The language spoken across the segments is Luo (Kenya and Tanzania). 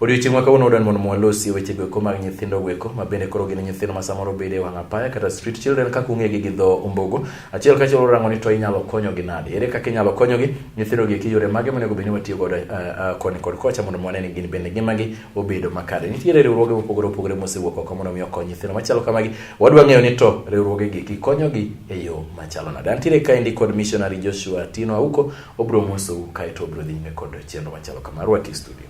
Odiochieng' ma kawuono wadwani mondo mwalosi weche goeko mag nyithindo goeko ma bende koro gin nyithindo ma samoro bede e wang' apaya kata street children kaka ung'egi gi dho ombogo. Achiel ka achiel warango ni to inyalo konyogi nade? Ere kaka inyalo konyogi? Nyithindo gi eki yore mage monego bed ni watiyo godo eh, eh, koni kod kocha mondo mwane ni gin bende ngimagi obedo makare. Nitiere riwruoge mopogore opogore mosewuok oko mondo mi okony nyithindo machalo kamagi. Wadwa ng'eyo ni to riwruoge gi eki konyogi e yo machalo nade? Antiere kaendi kod missionary Joshua Tino Auko obro mosou kaeto obro dhi nyime kod chenro machalo kama. Rwaki studio.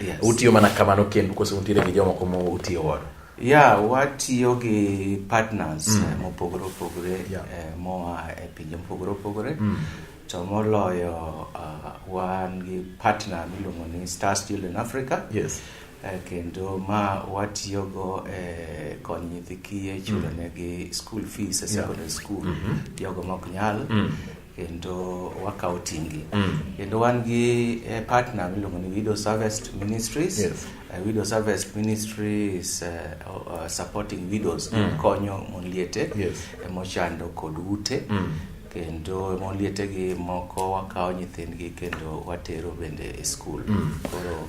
Yes. Utiyo mana kamano kendu kose untiere gi jomoko ma utiyo godo? Yeah, watiyo gi partners mm. Eh, mopogore opogore yeah. eh, moa e pinje mopogore opogore mm. to moloyo uh, wan gi partner miluongo ni Star Steel in Africa. Yes. Eh, kendo ma watiyogo e eh, konyo nyithi kiye chulonegi mm. school fees e secondary yeah. school mm -hmm. jogo mok nyal mm. kendo wakawo tingi mm. kendo wan gi eh, partner miluongo ni Widow Harvest Ministries yes. uh, Widow Harvest Ministries uh, uh, supporting widows mm. konyo mon liete yes. Eh, mochando kod ute mm. kendo mon liete gi moko wakawo nyithindgi kendo watero bende e skul mm. koro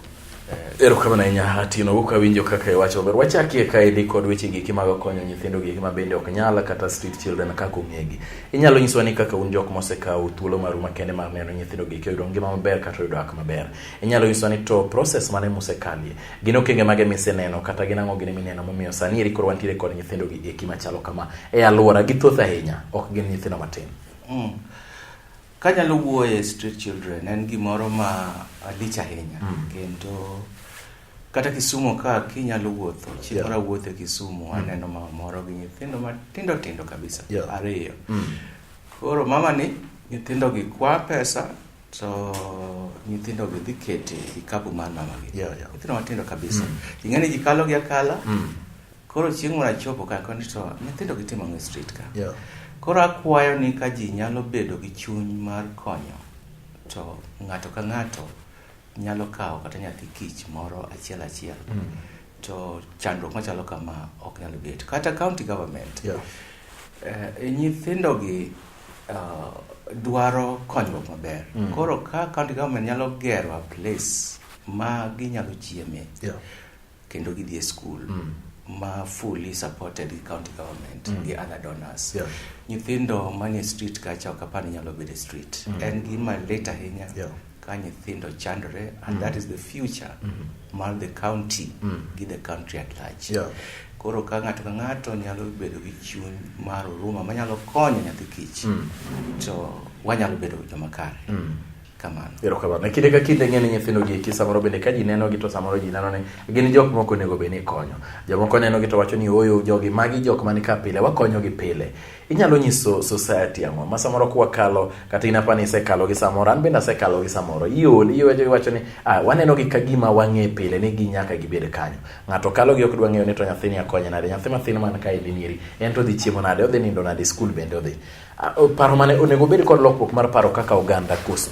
Erokamano ahinya Atino wuok awinjo kaka iwacho ber. Wachakie kaendi kod weche giki mag konyo nyithindo giki ma bende ok nyala kata street children kaka ong'egi. Inyalo nyiswa ni kaka un jok mosekawo thuolo maru makende mar neno nyithindo giki oyudo ngima maber kata oyudo ak maber. Inyalo nyiswa ni to process mane musekalie. Gin okenge mage miseneno kata gin ang'o gine mineno momiyo sani eri koro wantiere kod nyithindo gi eki machalo kama. E aluora githoth ahinya ok gin nyithindo matin. Mm. Kanyalo wuoye street children en gimoro ma alich ahinya mm. kendo kata Kisumu ka kinyalo wuotho chieng' yeah. moro awuotho e Kisumu mm. aneno mama moro gi nyithindo matindo tindo kabisa yeah. ariyo mm. koro mama ni nyithindo gi kwa pesa to nyithindo gi dhi kete kikapu mar mama gi yeah, yeah. nyithindo matindo kabisa mm. ing'eni ji kalo gi akala mm. Koro chieng' moro achopo ka koni to nyithindo gitimo ng'e street ka. Yeah. Koro akwayo ni ka ji nyalo bedo gi chuny mar konyo to ng'ato ka ng'ato nyalo kawo kata nyathi kich moro achiel achiel. Mm. To chandruok machalo kama ok nyal bet. Kata county government. Yeah. Uh, nyithindo gi uh, dwaro konyruok maber. Mm. Koro ka county government nyalo gero a place ma ginyalo chieme. Yeah. kendo gidhi e skul mm. ma fully supported gi county government mm. gi other donors yeah. nyithindo manie street kacha ok apar ni nyalo bedo e street mm. en gima lit ahinya yeah. ka nyithindo chandore and mm. that is the future mm. mar the county mm. gi the country at large yeah. koro ka ng'ato ka ng'ato nyalo bedo gi chuny mar huruma manyalo konyo nyathi kich mm. to wanyalo bedo joma kare mm. kamano erokamano e kinde ka kinde ng'e ni nyithindo gi eki samoro bende ka ji nenogi to samoro ji neno ni gin jok moko onego bed ni ikonyo jomoko nenogi to wacho ni oyo jogi magi jok mani ka pile wakonyogi pile inyalo nyiso society ang'o ma samoro kwakalo kata in apa ni isekalo gi samoro an bende asekalo gi samoro iol iwejo iwacho ni ah, wanenogi ka gima wang'e pile ni gi nyaka gibed kanyo ng'ato kalo gi ok dwa ng'eyo ni to nyathini akonye nade nyathi mathin man kaendi nieri en to odhi chiemo nade odhi nindo nade skul bende odhi Ah, o- Paro mane onego obed kod lokruok mar paro kaka oganda koso?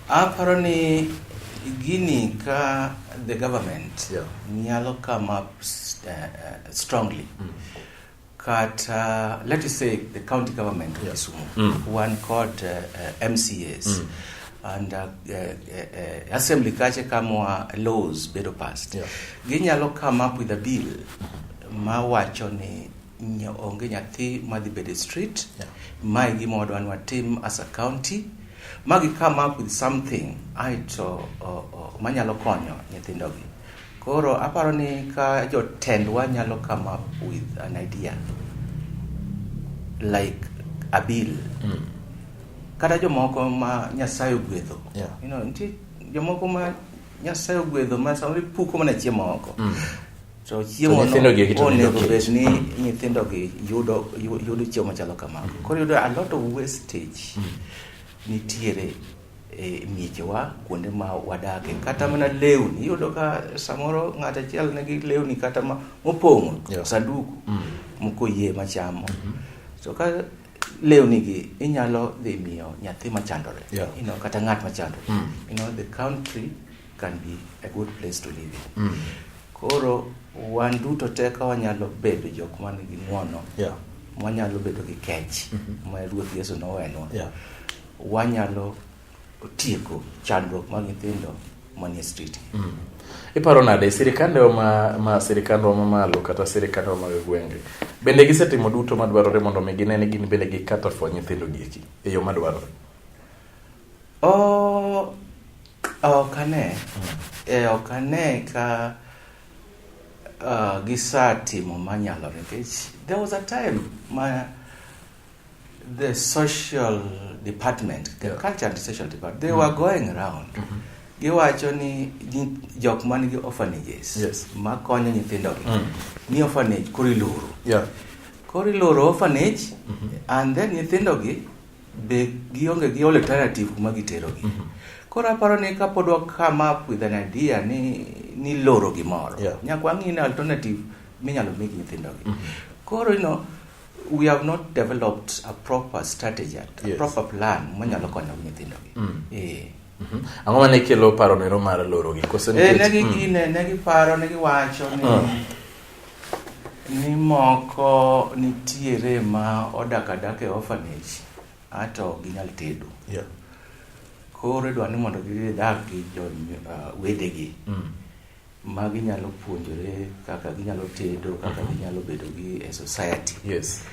Aparo ni gini ka the government Yeah. nyalo come up s- uh, uh, strongly kata let us say the county government of Kisumu one called uh, uh, MCAs and uh, uh, uh, assembly kache kama laws bedo passed Yeah. ginyalo come up with a bill mawacho ni onge nyathi madhi bede street yeah. ma e gima wadwa ni watim as a county magi come up with something aito manyalo konyo nyithindogi koro aparo ni ka jotendwa nyalo come up with an idea like a bill mm. kata jomoko ma nyasaye ogwedho yeah. you know, ntie jomoko ma nyasaye ogwedho ma samoro ipuko mana chiemo oko mm. So chiemo nyithindo gi eki to nindo onego kiny. bed ni nyithindo gi yudo yu- yudo chiemo machalo kamago. Koro yudo a lot of wastage nitiere e miechewa kuonde ma wadake kata mana lewni iyudo ka samoro ng'at achiel nigi lewni kata ma mopong'o Yeah. sanduku moko yie machamo so ka lewni gi inyalo dhi miyo nyathi machandore Yeah. you know, kata ng'at machandore Mm. you know, the country can be a good place to live in. Mm. Koro wan duto te ka wanyalo bedo jok man gi ng'wono yeah. wanyalo bedo gi kech mm -hmm. ma Ruoth Yesu nowenwa yeah. wanyalo tieko chandruok mag nyithindo manie street. Mm -hmm. Iparo nade sirikandwa ma, ma sirikandwa ma malo kata sirikandwa mag gwenge bende gisetimo duto madwarore mondo mi gine ni gin bende gikata fwa nyithindo gieki e yo madwarore? Oh, ok ane. Eh, ok ane ka uh, gisatimo manyalore nikech there was a time ma the social department, the Yeah. culture and social department, they were going around. Giwacho ni ji- jok man gi orphanages Yes. ma konyo nyithindogi Mm. ni orphanage koro iloro. Yeah. Koro iloro orphanage and then nyithindogi be gionge gi alternative kuma giterogi mm -hmm. koro aparo ni kapod wakam up with an idea ni ni loro gimoro yeah. nyaka wang'i ni alternative minyalo mi gi nyithindogi mm -hmm. koro you know, we have not developed a proper strategy a yes. proper plan manyalo konyo nyithindogi mm. e. Mhm. Ang'o ma ne kelo paro nero mar lorogi? Koso eh, nikech ne gi mm. ne ne giparo ne giwacho ni mm. ni moko nitiere ma odak adak e orphanage ato ginyal tedo. Yeah. Koro idwa ni mondo gidag gi jo uh, wedegi. Mm. ma ginyalo puonjore kaka ginyalo tedo kaka mhm. ginyalo bedo gi e society yes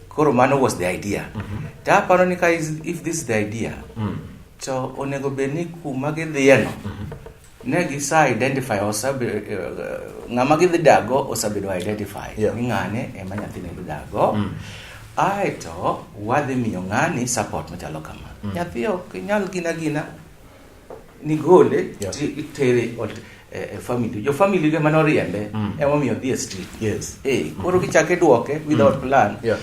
koro mano was the idea mm -hmm. to aparo ni ka if this is the idea mm. to onego bed ni kuma gidhiyeno mm -hmm. ne gisa identify osabe uh, ng'ama gidhi dago osabedo identify yeah. ni ng'ane ema nyathine dhi dago mm. aeto wadhi miyo ng'ani support machalo kama mm. nyathi ok nyal gina gina nigole yeah. itere eh, eh, family jo family ge mane oriembe mm. emomiyo dhi e street yes. hey, eh, koro mm. kichake duoke without mm. plan yeah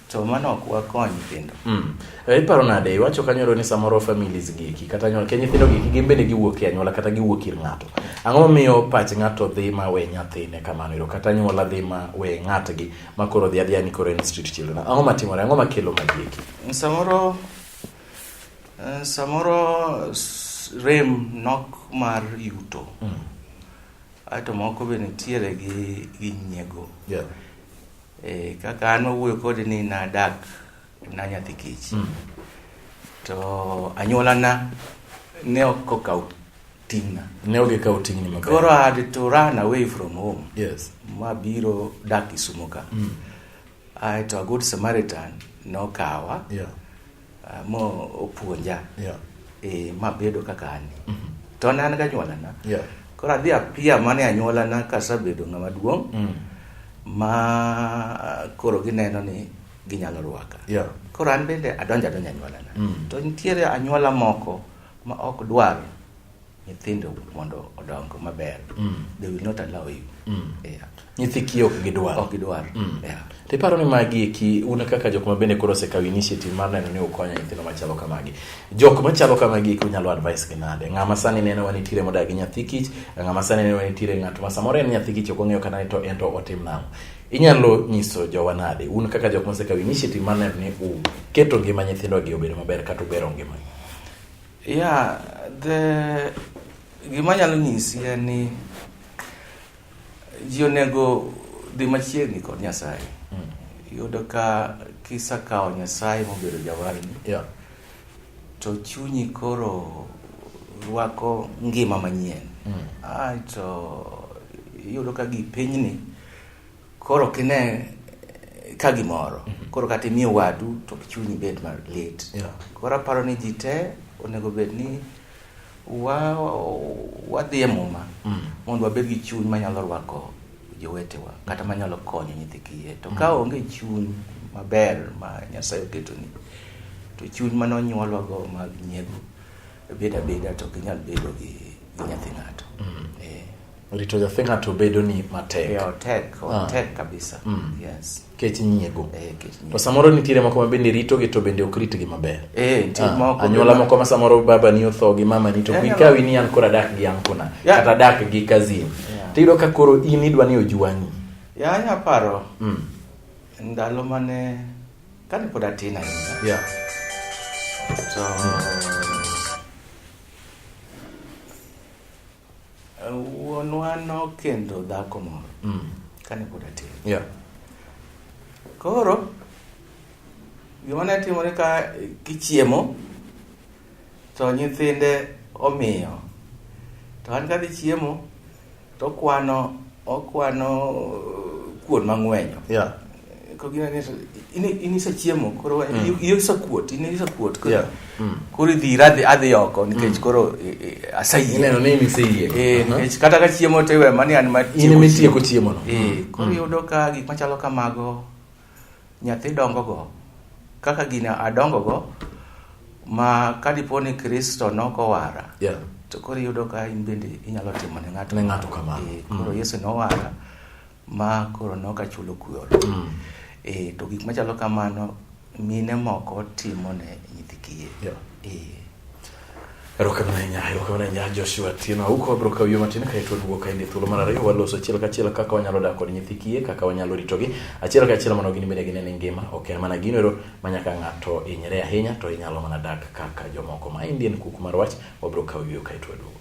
to mano ok wakony nyithindo mm. Eh, iparo nade iwacho kanyoro ni samoro families giki kata anyuola ke nyithindo giki gin bende giwuok e anyuola kata giwuok ir ng'ato ang'o miyo pach ng'ato dhi ma we nyathine kamano ero kata anyuola dhi ma we ng'atgi ma koro dhi adhiya ni koro en street children ang'o matimore ang'o makelo magieki samoro Eh, samoro rem nok mar yuto mm. aeto moko be nitiere gi, gi nyiego yeah. e, kaka an owuoyo kodi ni nadak na nyathi kich mm. to anyuolana ne ok okaw ting'na ne ok ikaw ting'ni maber koro I had to run away from home yes mabiro dak Kisumo ka mm. Ae to Good Samaritan nokawa yeah. uh, mopuonja yeah. e, mabedo kaka ani mm -hmm. to ne an ganyuolana yeah. koro adhi apia mane anyuolana kasabedo ng'ama duong' mm. ma koro gineno ni ginyalo rwaka yeah. koro an bende adonjo adonjo anyuolana mm. to nitiere anyuola moko ma ok dwar nyithindo mondo odong maber mm. they will not allow you mm. yeah. nyithi kiyo ok gidwar ok gidwar mm. yeah. to iparo ni magi eki un kaka jok ma bende koro osekawo initiative mar neno ni ukonyo nyithindo machalo kamagi jok machalo kamagi eki unyalo advice gi nade ng'ama sani neno wa nitiere modak gi nyathi kich ng'ama sani neno wa nitiere ng'at ma samoro en nyathi kich ok ong'eyo kata ni to en to otim nang'o inyalo nyiso jowa nade un kaka jok mosekawo initiative mar neno ni uketo ngima nyithindogi obedo maber kata ubero ngimagi Yeah, the gima nyalo nyisi en ni ji onego dhi machiegni kod Nyasaye. Mm. Yudo ka kisa kawo Nyasaye mobedo jawarni. Yeah. To chunyi koro rwako ngima manyien. Mm. Aito yudo ka gi pinyni Koro kine ka gimoro mhm. koro kata imiyo wadu to chunyi bed malit koro aparo ni ji te onego bed ni wadhi e muma mm. mondo wabed gi chuny manyalo rwako jowetewa kata manyalo konyo nyithi kiye to mm. ka onge chuny maber ma nyasaye oketoni to chuny mane onyuolwago mag nyiego bedo abeda to ginyal bedo gi nyathi ng'ato mm. eh. Rito nyathi ng'ato bedo ni matek. Yeah, otek, ah. otek ah. kabisa. Mm. Yes. Kech nyiego. Eh, kech nyiego. To samoro nitiere moko ma bende rito gi to bende ok ritgi maber. Eh, nitiere ah. moko. Anyuola moko ma samoro baba ni otho gi mama ni to yeah, kikawi ni an kora dak gi an kuna. Yeah. Kata dak gi kazin. Yeah. Tiyudo ka koro in idwa ni ojuangi. Yeah, ya paro. Mm. Ndalo mane kane pod atin ahinya. Yeah. So, mm. Wuonwa nokendo dhako moro mm. kane pod atin. Yeah. Koro gima ne timore ka kichiemo to nyithinde omiyo to an kadhi chiemo to okwano okwano uh, kuon mang'wenyo yeah. inisechiemo koro mm. isekwot in isekwot mm. koro idhi iradhi adhi oko nikech mm. koro e, e, asayieneno ni miseyie eh, uh-huh. nikech kata ka chiemo to iwe mani an matieko chiemono eh, koro yudo ka gik machalo kamago nyathi dongogo kaka gini adongogo ma kadipo ni kristo nokowara to koro yudo ka in bende inyalo timo ne ng'ato kamano eh, koro yesu nowara ma koro ne ok achulo kuor mm. e, to gik machalo kamano mine moko timo ne nyithi kiye yeah. e. erokamano ahinya erokamano ahinya joshua tino auko abiro kaw yo matin kaeto duogo kaende thuolo mar ariyo waloso achiel kachiel kaka wanyalo dak kod nyithi kiye kaka wanyalo ritogi achiel kachiel mondo gin bende gine ni ngima ok en mana gino ero ma nyaka ng'ato hinyre ahinya to inyalo mana dak kaka jomoko ma indian kuk mar wach wabiro kaw yo kaeto waduogo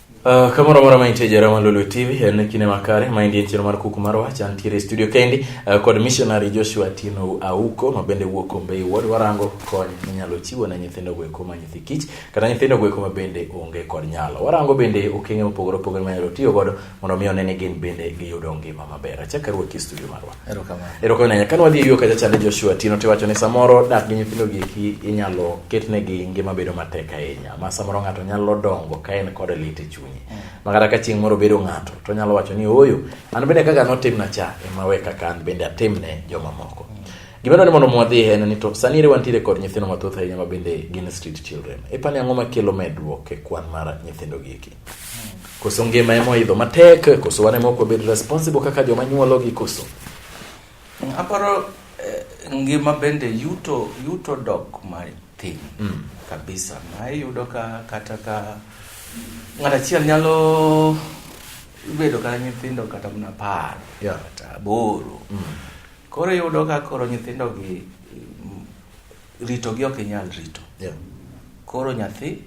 Uh, kamoro amora ma intie jara mar Lolwe TV en kinde makare ma indie nchiro mar kuku mar wach antiere e studio kendi uh, kod missionary Joshua Tino Auko ma bende wuok Kombei Ward warango kony minyalo chiwo ne nyithindo goeko ma nyithi kich kata nyithindo goeko ma bende onge kod nyalo warango bende okenge mopogore opogore ma nyalo tiyo godo mondo mi one ni gin bende giyudo ngima maber achaka ruoki e studio marwa erokamano kane wadhi e yo kacha chande joshua tino tiwacho ni samoro dak gi nyithindo gieki inyalo ketnegi ngima bedo matek ahinya ma samoro ng'ato nyalo dongo ka en kod lit e chunye mm. ma kata ka chieng' moro bedo ng'ato to nyalo wacho ni ooyo an bende kaka notimna cha ema we kaka an bende atimne jomamoko mm. gima dwani mondo mwadhi en ni to sani ere wantiere kod nyithindo mathoth ahinya ma bende gin street children ipani ang'o makelo medruok e kwan mar nyithindo gieki Koso ngima ema oidho matek, koso wan ema ok wabed responsible kaka joma nyuologi koso. Aparo eh, ngima bende yuto yuto dok matin mm. kabisa ma iyudo ka kata ka ng'at achiel nyalo bedo kata nyithindo kata mana apar yeah. kata aboro mm. koro iyudo ka koro nyithindogi ritogi ok inyal rito yeah. koro nyathi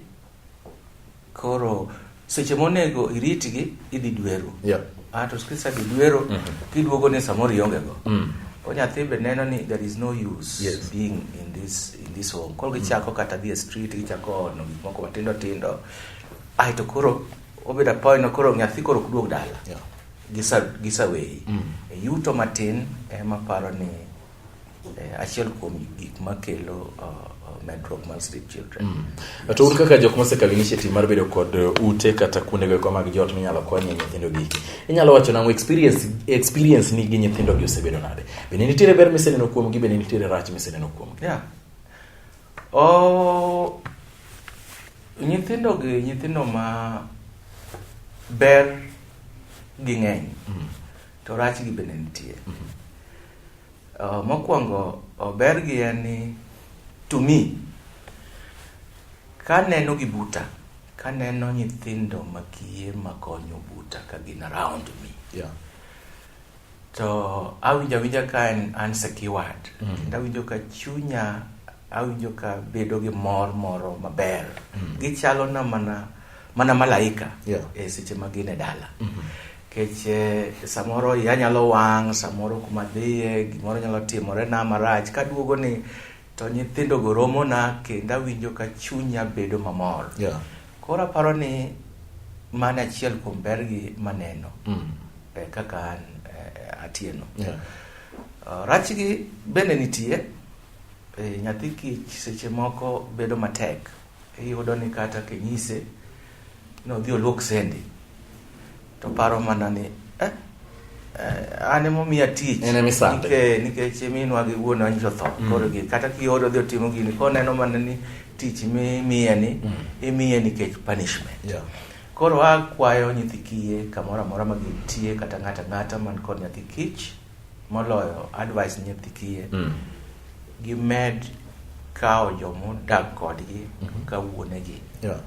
Koro seche monego iritgi idhi dwero. Yeah. Ah, to skisa gi dwero mm -hmm. kiduogo ni samoro ionge go. Mm. Ko nyathi be neno ni there is no use yes. being in this in this home. Koro gichako mm. kata dhi e street gichako no gik moko matindo tindo. Ai to koro obeda point koro nyathi koro kuduog dala. Yeah. Gisa gisa weyi. Mm. E yuto matin ema paro ni Eh, achiel kuom gik makelo uh, uh, medruok mar street children mm. to un kaka jok mosekalo initiative mar bedo kod uh, ute kata kuonde goeko mag joot minyalo konye nyithindo gi inyalo wacho nango experience experience ni gi nyithindo gi osebedo nade bende nitiere ber miseneno kuom gi bende nitiere rach miseneno kuom gi yeah. oh, nyithindo gi nyithindo ma ber gi ng'eny mm. to rach gi bende nitie mm -hmm. Uh, mokwongo uh, bergi en ni to me kaneno gi buta kaneno nyithindo makiye makonyo buta ka gin around me yeah. to awinjo awinja ka an, an secured mm. kendo awinjo ka chunya Awinjo ka bedo gi mor moro maber. Mm. Gichalo na mana mana malaika yeah. e seche ma gin e dala. Mm -hmm. Kech eh, samoro ya nyalo wang', samoro kuma dhiye, gimoro nyalo timore na marach. Kaduogo ni to nyithindo go romo na kendo awinjo ka chunya bedo mamor. Yeah. Koro aparo ni mano achiel kuom bergi maneno. Mm. Eh, kaka an eh, atieno. Yeah. Uh, rachgi bende nitie. E, nyathi kich seche moko bedo matek iyudo ni kata kinyise ni odhi oluok sendi to paro mana ni eh, eh, an emomiya tich En emisande. Nike- nikech minwa gi wuonwa nyiso tho koro gi kata kioro dhi otimo gini koneno mana ni tich mimiye ni imiye nikech punishment Yeah. koro akwayo nyithi kiye kamoro amora ma gintie kata ng'ato ang'ata man kod nyathi kich Moloyo advice nyithi kiye. Mm. Gimed kawo jomodak kodgi mm -hmm. ka wuonegi. Yeah.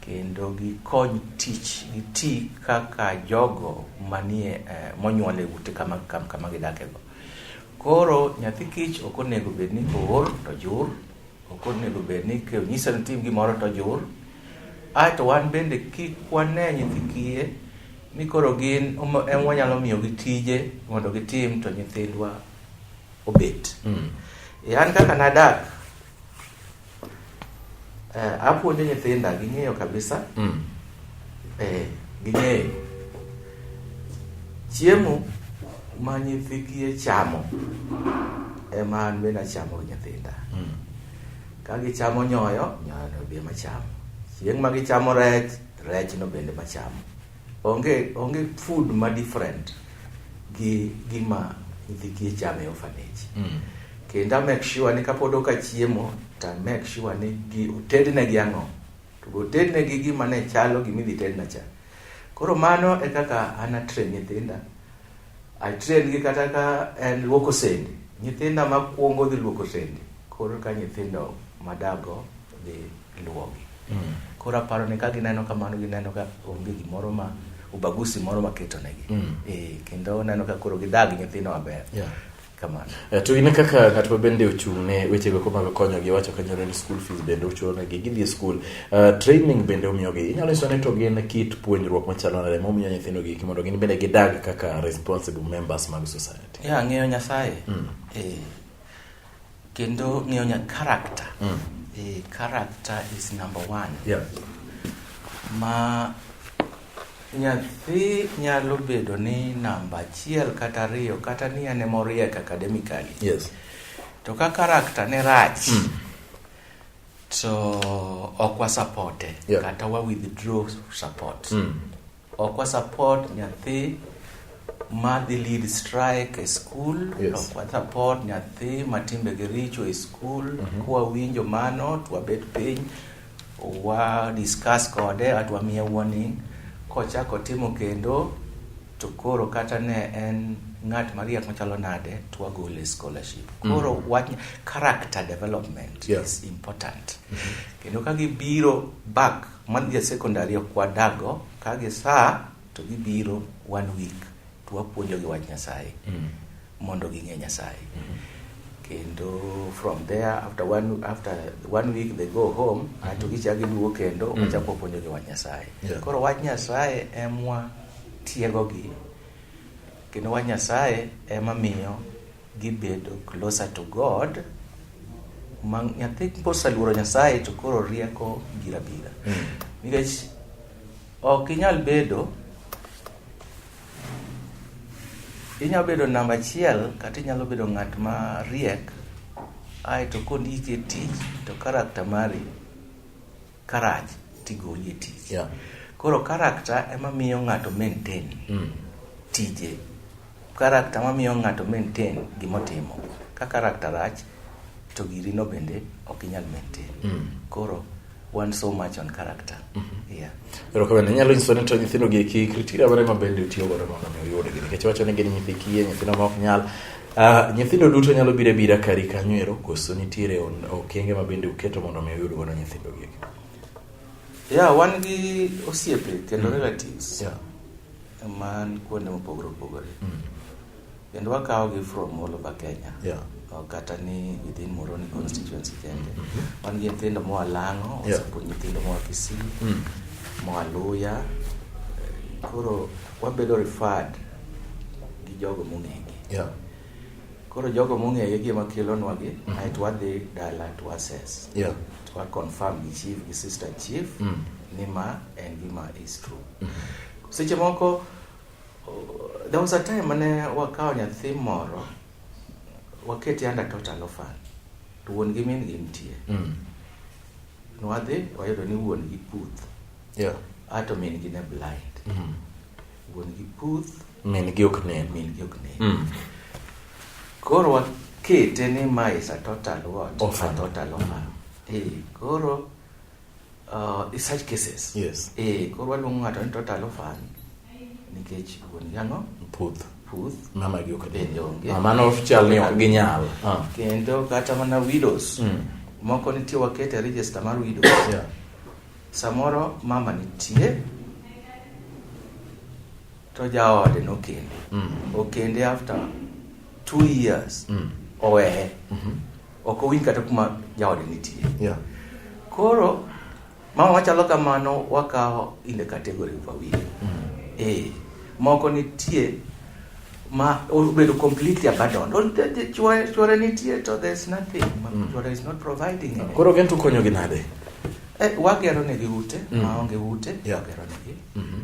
Kendo gikony tich, giti kaka jogo manie eh, monyuole ute kama, kama, kama gidakego. Koro nyathi kich ok onego bed ni ool to jur. Ok onego bed ni ka onyisa ni tim gimoro to ojur. Ae to wan bende kik wane nyithi kiye ni koro gin omo- em wanyalo miyogi tije mondo gitim to nyithindwa obet. Mm. E, an kaka nadak eh, apuonjo nyithinda ging'eyo kabisa Mm. Eh, ging'eyo. Chiemo ma nyithi kiye chamo ema an bende achamo gi nyithinda. Mm. Ka gichamo nyoyo, nyoyo no be machamo. Chieng' ma gichamo rech, rech no bende machamo. Onge, onge food ma different gi gima nyithi kiye chamo e orphanage. Mm. Kendo a make sure ni kapod oka chiemo, to a make sure ni gi, otednegi ang'o. To go tedne gi gima ne chalo gima idhi tedna cha. Koro mano e kaka an atrain nyithinda. Atrain gi kata ka en luoko sende. Nyithinda makwongo dhi luoko sende. Koro ka nyithindo madago dhi luogi. Mm. Koro aparo ni ka gineno kamano gineno ka onge gimoro ma ubagusi moro maketonegi. Mm. E, kendo neno ka koro gidag nyithindo maber. Yeah. kamano eh, to in kaka ng'at ma bende ochung' ne wechego ko mag konyogi wacho kanyalo ni school fees bende uchulonegi gidhi e school uh, training bende umiyogi inyalo nyiso ni to gin kit puonjruok machalo nade momiyo nyithindo giki mondo gin bende gidag kaka responsible members mag society ya yeah, ng'eyo nyasaye mm. eh, kendo ng'eyo nya character mm. eh, character is number one yeah. ma Nyathi nyalo bedo ni namba achiel kata ariyo kata ni ane moriek academically. Yes. To ka karakta ne rach, mm. to ok wasapote yeah. kata wa withdraw support. Mm. Ok wasapot nyathi madhi lead strike e school yes. ok support nyathi matimbegi richo e school mm -hmm. kwawinjo mano twabet piny wa discuss kode at wamiye warning kochako timo kendo to koro kata ne en ng'at mariek machalo nade to wagole scholarship mm. koro mm. wach character development yeah. is important mm -hmm. kendo ka gibiro back man ja secondary okwadago ka gisa To gibiro one week to wapuonjogi wach Nyasaye mm. mondo ging'e Nyasaye mm -hmm. kendo from there after one, after one week they go home mm -hmm. ato gichak giduogo kendo mm. wachako wapuonjogi wach Nyasaye yeah. Koro wach Nyasaye emwa tiegogi kendo wach Nyasaye ema miyo gibedo closer to God ma nyathi kosaluoro Nyasaye to koro rieko bira bira mm. nikech Ok inyal bedo inyalo bedo namba achiel kata inyalo bedo ng'at ma riek ae to kondiki e tich to karakta mari karach tigoli e tich yeah. koro karakta ema miyo ng'ato maintain mm. tije Karakta ma miyo ng'ato maintain gima otimo. Ka karakta rach, to giri no bende ok inyal maintain. Mm. Koro, one so much on character. Mm -hmm. Yeah. Ero kabende, nyalo nyiso ni to nyithindo gi eki kritika bare ma bende utiyo gore mondo mi uyude gini. Kecho wacho ni gini nyithi kiye, nyithindo ma ok nyal. Uh, nyithindo duto nyalo bire bira kari kanyo ero, koso nitiere okenge ma bende uketo mondo mi uyude gore nyithindo gi eki. Yeah, wan gi osiepe kendo mm. relatives. Yeah. man kuonde mopogore opogore mm. kendo wakawogi from all over kenya yeah. kata ni within moroni constituency kende mm -hmm. wan gi nyithindo moa lang'o wasepuonj yeah. nyithindo moa kisii mm. moa luya koro wabedo referred gi jogo mong'egi yeah. koro jogo mong'egi gi ema kelonwagi mm -hmm. aeto wadhi dala to assess yeah. to waconfirm gi chief gi sister chief mm. ni ma en gima is true mm -hmm Seche moko there was a time mane wakawo nyathi moro waketi under total orphan to wuon gi min gi nitie mm. nwadhi wayudo ni wuon gi puth yeah. ato min gi ne blind mm. wuon gi puth min gi ok nen min gi ok nen mm. koro wakete ni ma is a total what orphan. a total orphan mm. hey, koro Uh, in such cases. Yes. Eh, koro waluongo ng'ato ni total orphan nikech wuon yango puth puth mama gi ok bende onge. Mama no chal ni ok ginyal. Ah. Kendo kata mana widows. Mm. Moko nitie wakete register mar widows. Yeah. Samoro mama nitie to jaode nokende. Mm. Okende after two years. Mm. Oweye. Mm -hmm. ok owinj kata kuma jaode nitie yeah. koro mama machalo kamano wakawo in the category of awil mm. eh, moko nitie ma obedo completely abandoned chwore nitie to there's nothing mm. chwore is not providing anything. koro gen to konyogi nade eh, wagero negi ute mm. maonge ute yeah. wagero negi mm -hmm.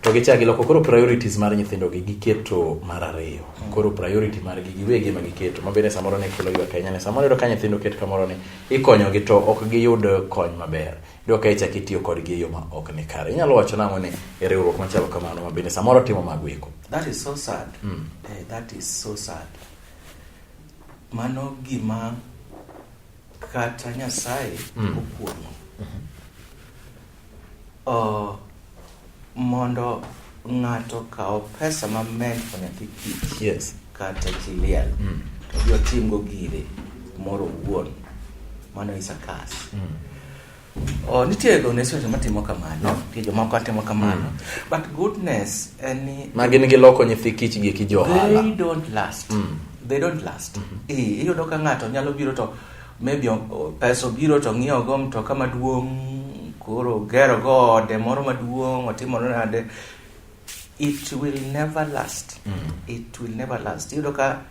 to gichak giloko koro priorities mar nyithindogi giketo mar ariyo mm. koro priority margi giwegi ema giketo mabende samoro ne kelo ywak ahinya ne samoro yudo ka nyithindo ket kamoro ni ikonyogi to ok giyud kony maber yudo ka ichak itiyo kodgi e yo ma ok ni kare inyalo wacho nang'o ni e riwruok machalo kamano mabende samoro timo mago eko that is so sad mm. eh, that is so sad mano gima kata nyasaye mm. okuong'o mm -hmm. Uh, mondo ng'ato kawo pesa ma mento nyathi kich yes. kata chiliel mm. to gi otimgo gire moro wuon mano is a kas mm. Oh, nitie donation matimo kamano nitie jomoko atimo kamano mm. but goodness en ni magin gi loko nyithi kich gi kijohala they don't last mm. they don't last mm -hmm. iyudo ka ng'ato nyalo biro to maybe pesa obiro to ng'iewo go mtoka maduong' koro gero go ode moro maduong' otimore nade it will never last mm. it will never last iyudo ka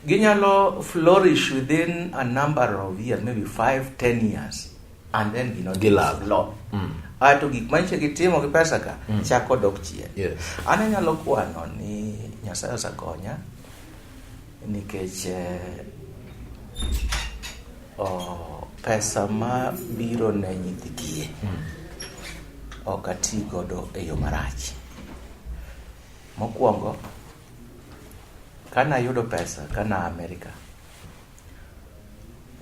ginyalo flourish within a number of years maybe 5 10 years and then you know gilove law mm. ato gik manche gitimo gi pesa ka mm. chako dok chien yes. an anyalo kwano ni nyasaye osakonya Nikech eh, oh, pesa ma biro ne nyithi kiye ok ati godo e yo marach. Mokwongo, kane ayudo pesa kane a Amerika,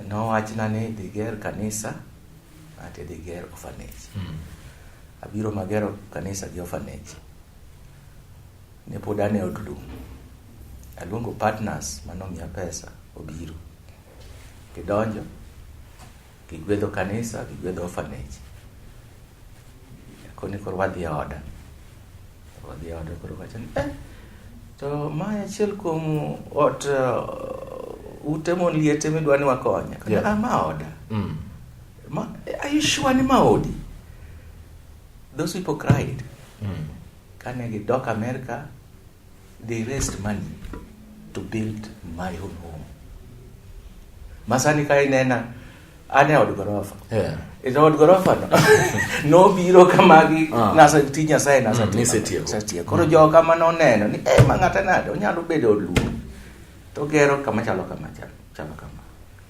nowachna ni dhi ger kanisa ati dhi ger orphanage. Abiro magero kanisa gi orphanage. Ne pod an e od lum. Aluongo partners mane omiya pesa obiro. Gidonjo, gigwedho kanisa, gigwedho orphanage. Koni koro wadhi e oda. Wadhi e oda koro wacho ni, eh, to ma achiel kuom ot uh, ute mon liete midwa ni wakonye. Koni, Yeah. ah, ma oda. Mm. Ma, are you sure ni ma odi? Those people cried. Mm. Kane gidok Amerika, They raised money to build my own home. Masani ka inena ane od gorofa. Yeah. Ito od gorofa no. no biro kamagi uh. Ah. nasa ti nyasaye nasa mm, ti. Nise tiyo. Nasa tiyo. Koro mm. jo kama no neno ni eh mangata nade onyalo bedo od luo. To gero kama chalo kama chalo. Chalo kama.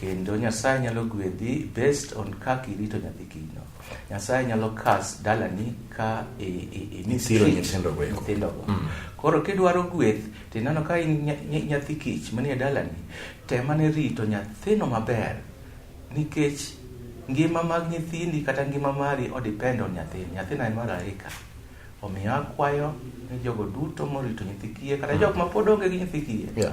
kendo Nyasaye nyalo gwedhi based on kaka irito nyathi kinyno. Nyasaye nyalo kas dalani ka imisiro nyithindogo. Mm. Koro kidwaro gweth to ineno ka in nyathi kich manie dalani, temane rito nyathino maber nikech ngima mag nyithindi kata ngima mari odepend on nyathini. Nyathina en mar arika. Omiyo akwayo ni jogo duto morito nyithi kiye kata mm. jok ma pod onge gi nyithi kiye. Yeah